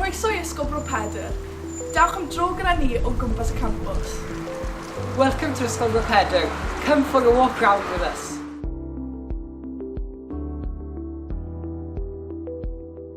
Croeso i Ysgol Bro Pedr. Dewch am dro gyda ni o gwmpas y campws. Welcome to Ysgol Bro Pedr. Come for a walk round with us.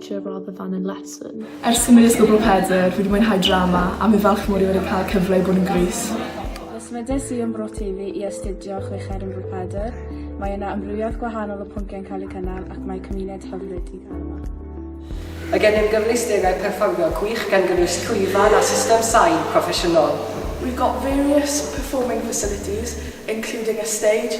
lecture rather than in lesson. Ers symud i Sgwbl Pedr, fi di mwynhau drama a mi falch mod i wedi cael cyfle i bod yn Greece. Symudais i yn Bro Teifi i astudio chweched yn Bro Pedr. Mae yna amrywiaeth gwahanol o pwnciau'n cael eu cynnal ac mae cymuned hyfryd i gael yma. Mae gennym gyfleusterau perfformio gwych gan gynnwys llwyfan a system sain proffesiynol. We've got various performing facilities, including a stage,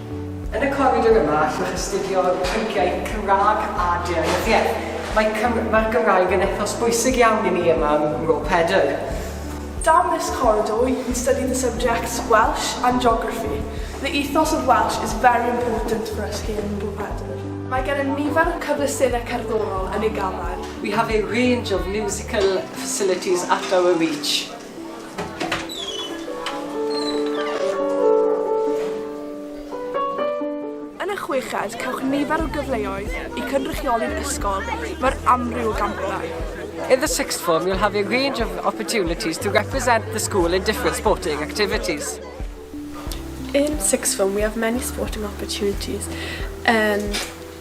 Yn y coridor yma allwch astudio pynciau Cymraeg a Deyrnyddiaeth. Mae Cym mae'r Gymraeg yn ethos bwysig iawn i ni yma ym Mro Pedr. Down this corridor you can study the subjects Welsh and Geography. The ethos of Welsh is very important for us here in Mro Pedr. Mae gennym nifer o cyfleusterau cerddorol yn ei ganran. We have a range of musical facilities at our reach. Yn y chweched, cewch nifer o gyfleoedd i cynrychioli'r ysgol mewn amryw o gampau. In the sixth form, you'll have a range of opportunities to represent the school in different sporting activities. In sixth form, we have many sporting opportunities and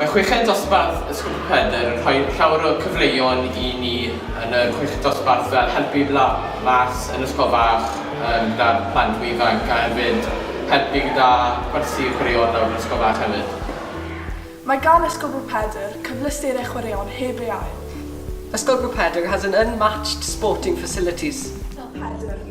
Mae chweched dosbarth Y Sgwmp Pedr yn rhoi llawer o cyfleon i ni yn y chweched dosbarth fel helpu la- las yn ysgol fach yym gyda'r plant mwy ifanc a hefyd helpu gyda gwersi chwaraeon lawr yn ysgol fach hefyd. Mae gan Y Sgwmp Pedr cyfleusterau chwaraeon heb ei ail. Y Sgwmp Pedr has an unmatched sporting facilities. Sgwmp Pedr.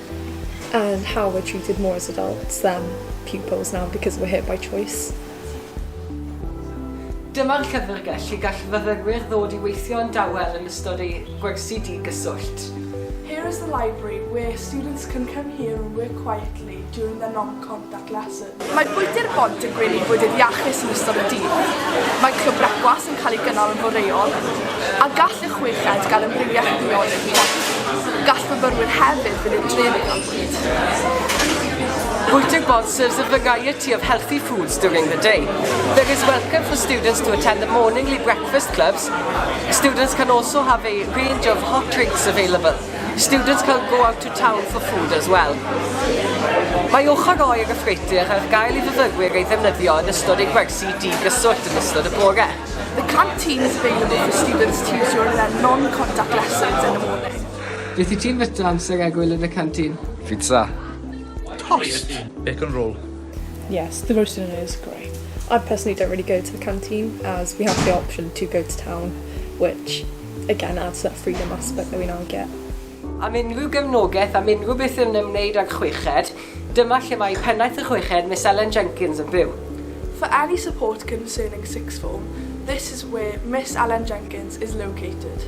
and how we're treated more as adults than pupils now because we're here by choice. Dyma'r llyfrgell lle gall fyfyrwyr ddod i weithio yn dawel yn ystod eu gwersi di-gyswllt. Here is the library where students can come here and work quietly during their non-contact lessons. Mae Bwydy'r Bont yn gwneud bwydydd iachus yn ystod y dydd. Mae Clwb Brecwast yn cael ei gynnal yn foreol, a gall y chweched gael amrywiaeth o ddiodydd i godi. Gall myfyrwyr hefyd fynd i'r dref am fwyd. Bwydy'r Bont serves a variety of healthy foods during the day. There is welcome for students to attend the morningly breakfast clubs. Students can also have a range of hot drinks available. Students cael go out to town for food as well. Mae ochr oer y ffreutur ar gael i fyfyrwyr ei ddefnyddio yn ystod eu gwersi di-gyswllt yn ystod y bore. The canteen is available for students to use during their non-contact lessons in the morning. Beth i ti'n fita amser egwyl yn y canteen? Pizza. Tost. Bacon roll. Yes, the roast dinner is great. I personally don't really go to the canteen as we have the option to go to town, which again add to that freedom aspect that we now get. Am unrhyw gefnogaeth am unrhyw beth yn ymwneud â'r chweched, dyma lle mae Pennaeth y Chweched, Miss Ellen Jenkins, yn byw. For any support concerning sixth form, this is where Miss Ellen Jenkins is located.